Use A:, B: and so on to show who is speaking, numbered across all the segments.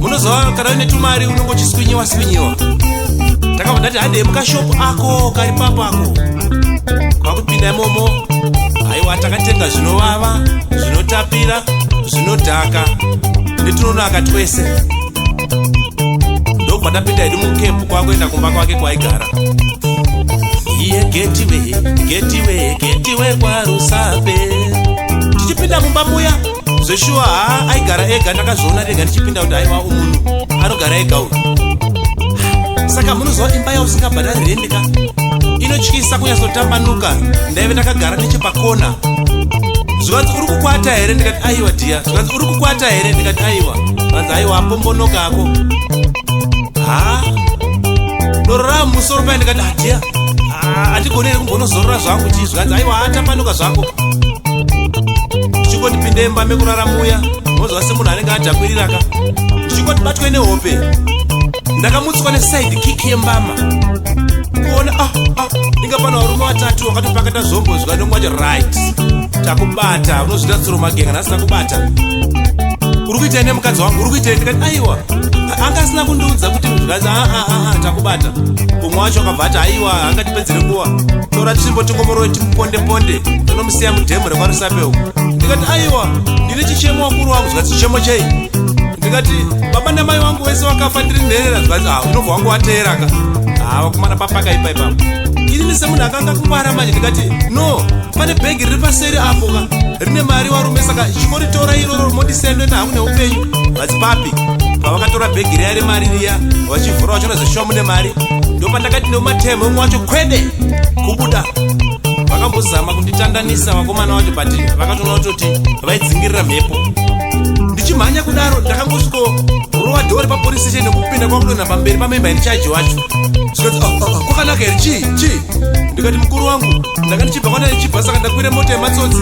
A: munozova kana une tumari unenge uchiswinyiwa swinyiwa ndakabva ndati handei mukashopu ako kari papo ako kwakupinda imomo aiwa takatenga zvinovava zvinotapira zvinodhaka netunonaka twese ndokubva ndapinda hedu mukepu kwakuenda kumba kwake kwaigara iye getiwe getiwe getiwe kwarusape tichipinda mumba muya zveshuwa haa aigara ega ndakazviona rega ndichipinda kuti aiwa umunhu anogara ega uyu saka munoziva imba yausingabhadari rendi ka inotyisa kunyatsotambanuka ndaive ndakagara nechepakona zvikanzi uri kukwata here ndikati aiwa dhiya zvikanzi uri kukwata here ndikati aiwa zvikanzi aiwa apombonoka ako haa doro rava musoro paye ndikati adhiya ah, ah, andigoni here kumbonozorora zvangu chii zvikanzi aiwa atambanuka zvako ndichingoti pinde mba mekurara muya mozova semunhu anenge adhakwiriraka ndichingoti batwe nehope ndakamutswa nesaidi kiki yembama kuona ah, ah, inga pana varume vatatu vakatopakata zvombo zvikanongwaja right takubata unozvita tsoro magenga ndasina kubata uri kuitei nemukadzi wangu uri kuitei ndikati aiwa anga asina kundiudza kuti zvikanzi aa ah, ah, ah, takubata umwe wacho akabva ati aiwa angatipedzere nguva tora tsvimbo tingomoroi timuponde ponde tinomusiya mudhemu rekwarusape uku ndikati aiwa ndine chichemo wakuru wangu zvikati chichemo chei ndikati baba namai wangu wese wakafa ndiri nherera zvikati ha ah, unobva wangu wateeraka ha ah, wakumana papaka ipa ipapo inini semunhu akanga kuvara manje ndikati no pane bhegi riri paseri apo ka rine mari warume saka chikoritora iroro mondisendwena hangu neupenyu vati papi pavakatora bhegi riya remari riya vachivhura vachiona zeshuwa mune mari ndopandakati neumatemo umwe wacho kwede kubuda vakambozama kunditandanisa vakomana vacho but vakatoona kutoti vaidzingirira mhepo ndichimhanya kudaro ndakangosviko rova dhori papolice station nekupinda kwakudonha pamberi pamemba here chaji wacho zvikati oh, oh, oh, kwakanaka here chii chii ndikati mukuru wangu ndanga ndichibva kwana ndichibva saka ndakwire mota yematsotsi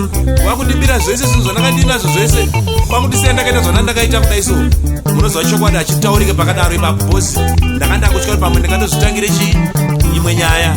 A: wakundibira zvese zvinhu zvandanga ndiinazvo zvese kwakundisiya ndakaita zvana ndakaita kudai so munoziva chokwadi achitaurike pakadaro ipapo bhosi ndanga ndakutya kuti pamwe ndingatozvitangire chii imwe nyaya